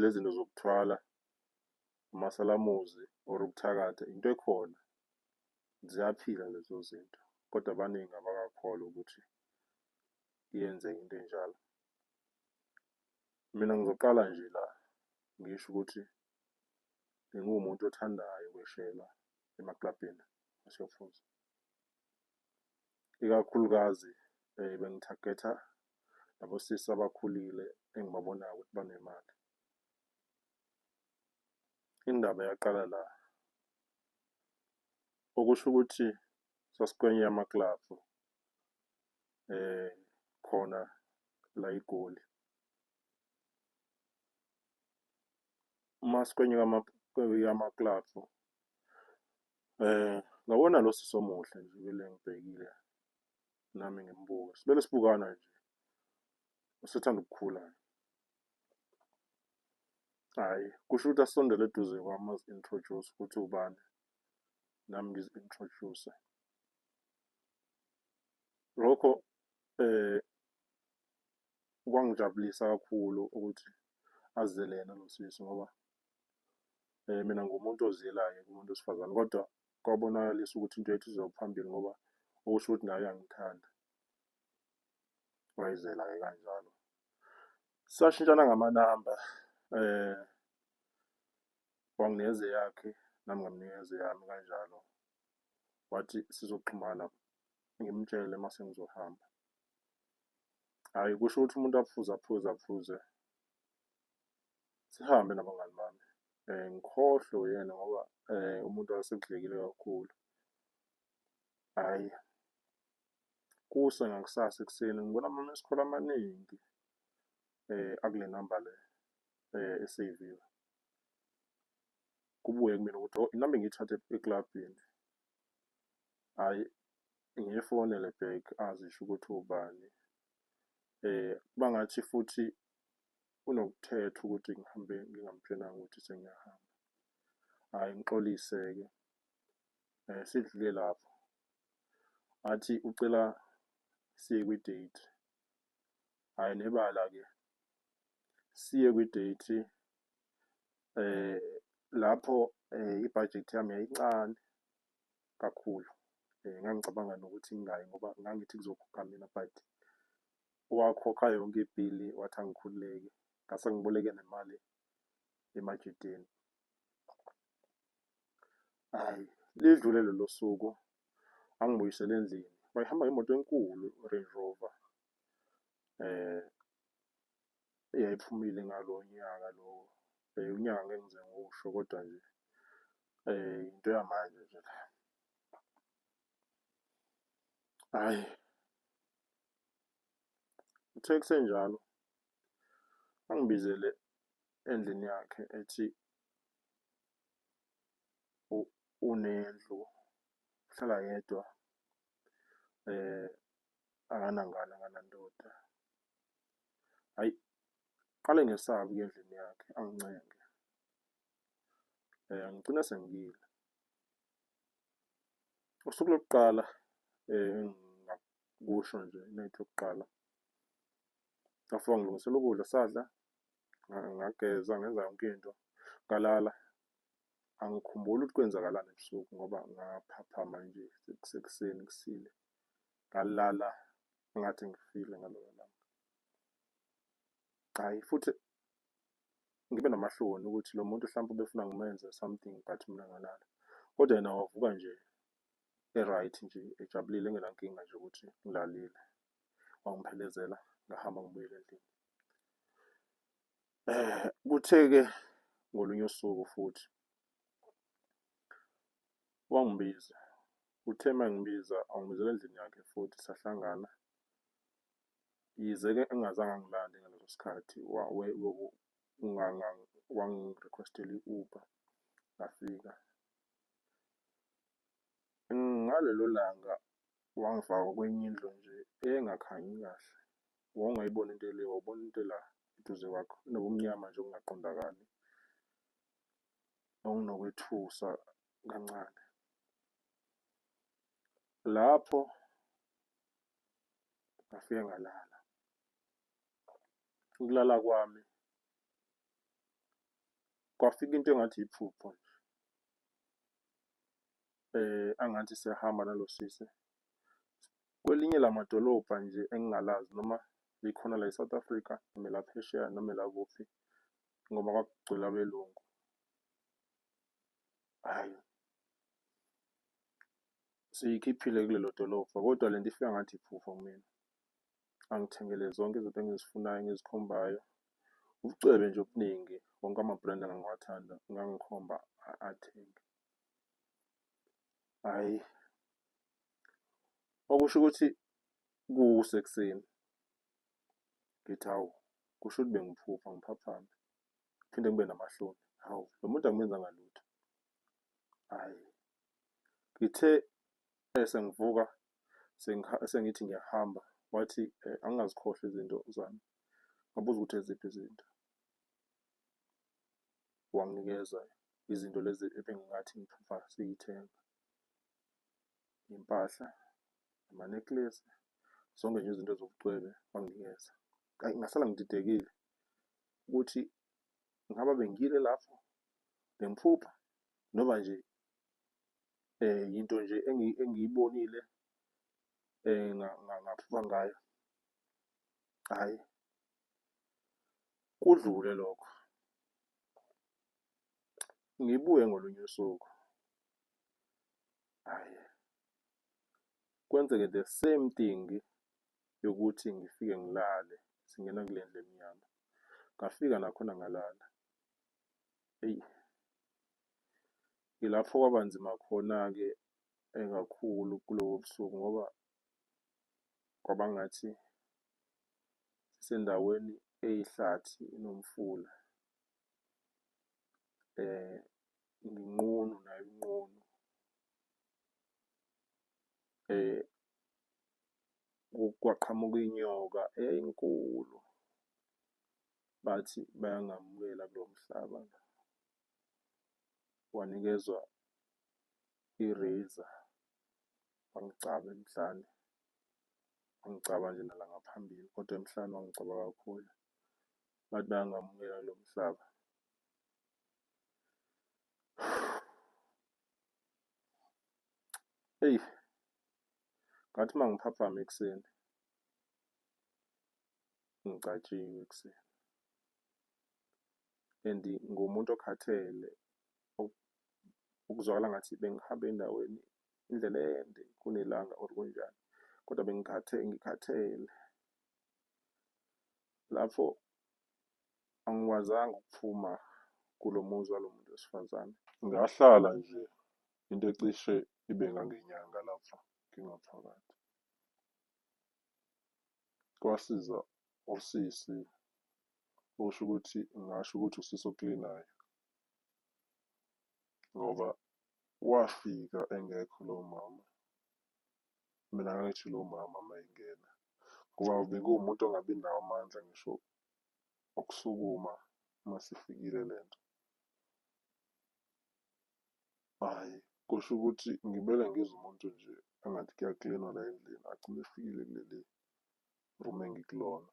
lezinto zokuthwala umasalamuzi or ukuthakatha into ekhona ziyaphila lezo zinto kodwa abaningi abakakholwa ukuthi iyenzeka into enjalo mina ngizoqala nje la ngisho ukuthi bengiwumuntu othandayo ukweshela emaklabhini asefuza ikakhulukazi um bengithagetha labo sisi abakhulile engibabonayo ukuthi banemali. Indaba yaqala la, okusho ukuthi sasikwenye yamaklabhu eh khona la iGoli. Uma sikwenye yamaklabhu eh ngabona lo sisi omuhle nje bele ngibhekile nami ngimbuke sibele sibukana nje usethanda ukukhula hayi kusho ukuthi asondele eduze kwami azi-introduce ukuthi ubani nami ngizi-introduce lokho eh kwangijabulisa kakhulu ukuthi azele yena lo sisi ngoba eh mina ngumuntu oziyelayo kumuntu wesifazane kodwa kwabonakalisa ukuthi into yethu izoya phambili ngoba okusho ukuthi naye uyangithanda. Wayizela-ke kanjalo. Sashintshana ngamanamba um wanginikeza eyakhe nami ngamnikeza eyami kanjalo. Wathi sizoxhumana ngimtshele uma sengizohamba. Hhayi kusho ukuthi umuntu aphuze aphuze aphuze sihambe nabangani bami um ngikhohlwe uyena ngoba um umuntu wayesekudlekile kakhulu. Hhayi, kuse ngakusasa ekuseni ngibona ama-missed call amaningi um akule namba le um eseyiviwe. Kubuye kumina ukuthi oh inamba engiyithathe eklabhini. Hhayi, ngiyifonele back azisho ukuthi ubani. Um kuba ngathi futhi kunokuthetha ukuthi ngihambe ngingamtshelanga ukuthi sengiyahamba. Hhayi ngixolise-ke um sidlule lapho. Athi ucela siye kwi-date. Hhayi nebala-ke siye kwi-date um lapho um ibhajethi yami yayincane kakhulu. Um ngangicabanga nokuthi ngingayi ngoba ngangithi kuzokhokha mina but wakhokha yonke ibhili wathi angikhululeke ngase ngiboleke nemali emajiteni hayi lidlule lelo suku angibuyisele endlini wayihamba ngemoto enkulu Range Rover eh eyayiphumile ngalo nyaka lo unyaka ngeke ngize ngiwusho kodwa nje eh into yamanje nje la hayi Uthe kusenjalo angibizele endlini yakhe ethi unendlu uhlala yedwa akanangane akanandoda. Hhayi qale ngesabe ukuya endlini yakhe angincenge ngigcine sengiyile. Usuku lokuqala . kusho nje iminute yokuqala. Ngafika ngilungisela ukudla sadla, ngageza ngenza yonke into, ngalala. Angikhumbuli ukuthi kwenzakalani ebusuku ngoba ngaphaphama nje kusekuseni kusile. Ngalala ngathi ngifile ngalelo langa. Hhayi futhi ngibe namahloni ukuthi lo muntu hlampe ubefuna ngimenze something but mina ngalala. Kodwa yena wavuka nje e-right nje ejabulile engenankinga nje ukuthi ngilalile. Wangiphelezela ngahamba ngibuyele endlini. Kuthe-ke ngolunye usuku futhi wangibiza. Uthe uma engibiza wangibizela endlini yakhe futhi sahlangana. Yize-ke engazange angilande ngaleso sikhathi wangi-request-ela i-Uber ngafika. Ngalelo langa wangifaka kwenye indlu nje eyayingakhanyi kahle, wawungayiboni into ele, wawubona into ela eduze kwakho, inobumnyama nje obungaqondakali nokunokwethusa kancane. Lapho ngafike ngalala, ukulala kwami. kwafika into engathi iphupho nje. Angathi siyahamba nalo sisi kwelinye lamadolobha nje engingalazi noma likhona la e-South Africa noma elaphesheya noma elakuphi ngoba kwakugcwele abelungu. Hhayi, seyikhiphile kulelo dolobha kodwa le nto ifika ngathi iphupho kumina. angithengele zonke izinto engizifunayo engizikhombayo. Ubucwebe nje obuningi, wonke ama-brand engangiwathanda engangikhomba athenge. Hhayi, okusho ukuthi kusekuseni ngithi hawu, kusho ukuthi bengiphupha ngiphaphame, ngiphinde ngibe namahloni. Hawu, lo muntu angimenzanga lutho. Hhayi, Ngithe sengivuka sengithi ngiyahamba wathi angingazikhohlwa izinto zami. Ngabuza ukuthi eziphi izinto? Wanginikeza izinto lezi ebengingathi ngiphupha siyithenga, iy'mpahla, ama-necklace, zonke nje izinto eziwubucwebe wanginikeza. Ayi ngasala ngididekile ukuthi ngaba bengile lapho bengiphupha noma nje um yinto nje engiyibonile um ngaphupha ngayo, hhayi kudlule lokho. Ngibuye ngolunye usuku, hhayi kwenzeke the same thing. yokuthi ngifike ngilale singena kule ndlu emnyama. Ngafika nakhona ngalala. Eyi, yilapho kwaba nzima khona-ke eh, kakhulu kulobo busuku ngoba kwaba ngathi sisendaweni eyihlathi inomfula. Eh, nginqunu nayo inqunu. Eh, kwaqhamuka inyoka enkulu bathi bayangamukela kulo mhlaba wanikezwa i-razor wangigcaba emhlane wangigcaba nje nala ngaphambili kodwa emhlane wangigcaba kakhulu bathi bayangamukela kulo mhlaba eyi ngathi uma ngiphaphama ekuseni ngicatshiwe ekuseni and ngumuntu okhathele ukuzwakala ngathi bengihambe endaweni indlela ende kunelanga or kunjani kodwa bengikhathe ngikhathele lapho angikwazanga ukuphuma kulo muzi walo muntu wesifazane. Ngahlala nje into ecishe ibe ngangenyanga lapha ngingaphakathi. Kwasiza usisi osho ukuthi ngingasho ukuthi usisi oklinayo ngoba wafika engekho lowo mama. Mina ngangithi lowo mama uma engena ngoba bekuwumuntu ongabi nawo amandla ngisho ukusukuma uma sifikile le nto. Hhayi, kusho ukuthi ngimele ngize umuntu nje engathi kuyaklinwa la endlini agcine efikile kuleli room engikulona.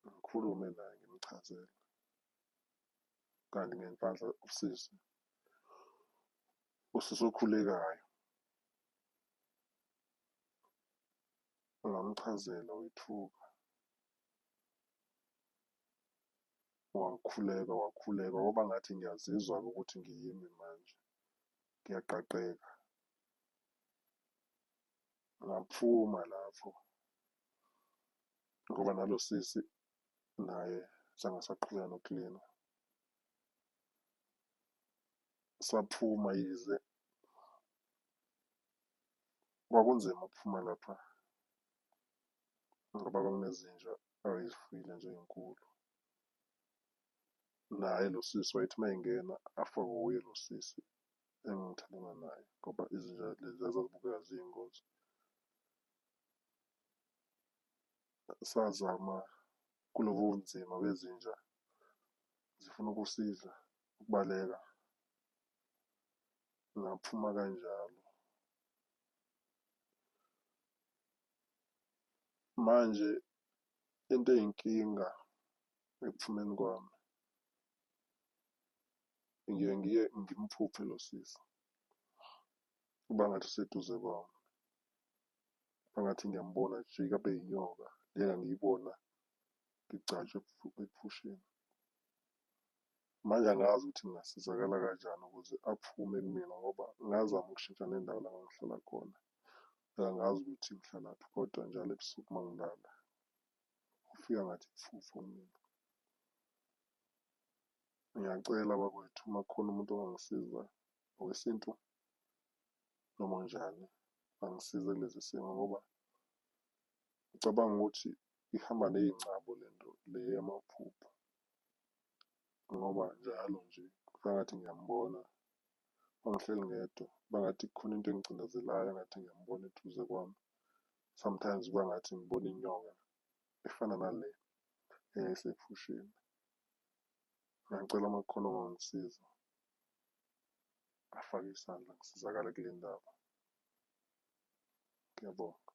Ngikhulume naye ngimchazele. Kanti ngenhlanhla usisi, usisi okhulekayo. ngamchazela wethuka wakhuleka wakhuleka kwaba ngathi ngiyazizwa-ke ukuthi ngiyimi manje ngiyaqaqeka ngaphuma lapho ngoba nalo sisi naye sangasaqhubeka nokulina saphuma yize Kwakunzima ukuphuma lapha ngoba kwakunezinja ayezifuyile nje ey'nkulu. Naye lo sisi wayethi uma engena afe wuye lo sisi engithandana naye ngoba izinja lezi zazibukeka ziyingozi. Sazama kulobu bunzima bezinja zifuna ukusiza ukubaleka. ngaphuma kanjalo. Manje into eyinkinga ekuphumeni kwami ngiye ngiye ngimphuphe lo sisi kuba ngathi useduze kwami angathi ngiyambona jika abe yinyoka lena ngiyibona ngigcatshwe ephusheni Manje angazi ukuthi ngingasizakala kanjani ukuze aphume kumina ngoba ngazama ukushintsha nendawo la ngangihlala khona. Angazi ukuthi ngihlalaphi kodwa njalo ebusuku uma ngilala ufika ngathi ifufu mina. Ngiyacela bakwethu uma kukhona umuntu ongangisiza ngokwesintu noma njani angisize kulezi simo ngoba ngicabanga ukuthi ihamba ney'ngcabo le nto le yamaphupho. ngoba njalo nje ngathi ngiyambona wangihleli ngedwa bangathi khona into engicindezelayo ngathi ngiyambona eduze kwami sometimes kwangathi ngibona inyoka efana nale eyayisephusheni ngicela uma kukhona ongangisiza afake isandla ngisizakale kule ndaba ngiyabonga